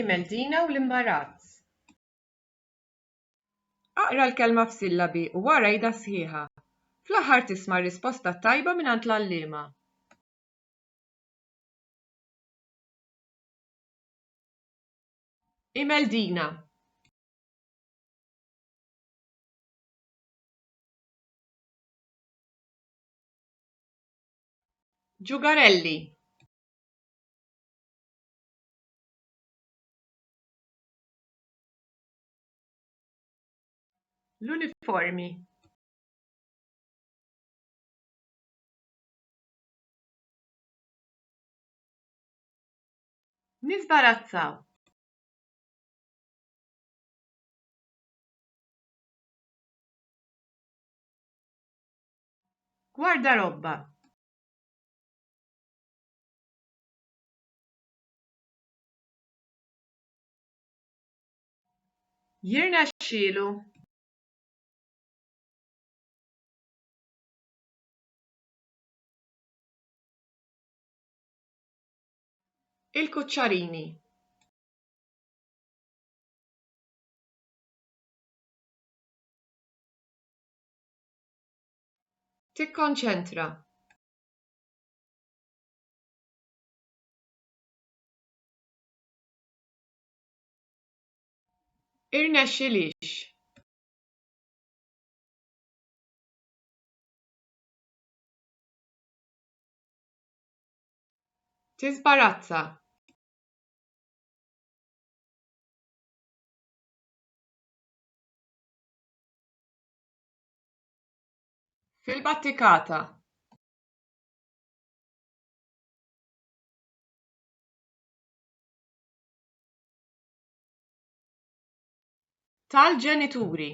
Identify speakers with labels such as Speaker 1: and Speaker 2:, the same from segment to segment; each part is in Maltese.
Speaker 1: Imeldina u l-imbarazz. Aqra l-kelma f'sillabi u wara għidha sħiħa. Fl-aħħar tisma' r-risposta t-tajba mingħand l-għalliema. Imeldina. Ġugarelli. l-uniformi niżbarazzaw gwardarobba Jirnexxielu. Il-kuċċarini. Tikkonċentra. irnexxilhiex. Tiżbarazza. Fil-battikata. tal-ġenituri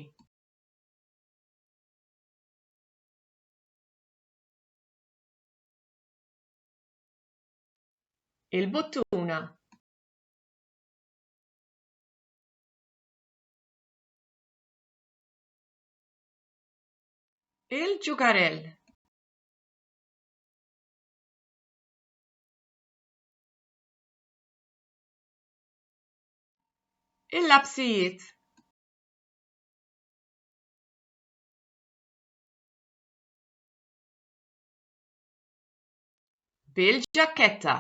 Speaker 1: il-buttuna il-ġugarell Il-lapsijiet bil-ġakketta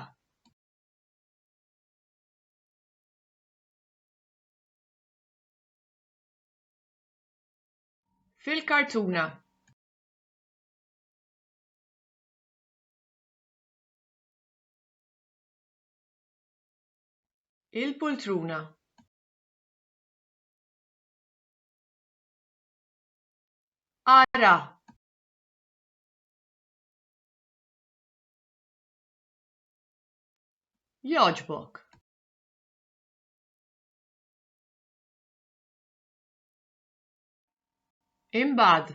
Speaker 1: fil-kartuna Il-poltruna. Ara. Jogħġbok. Imbagħad.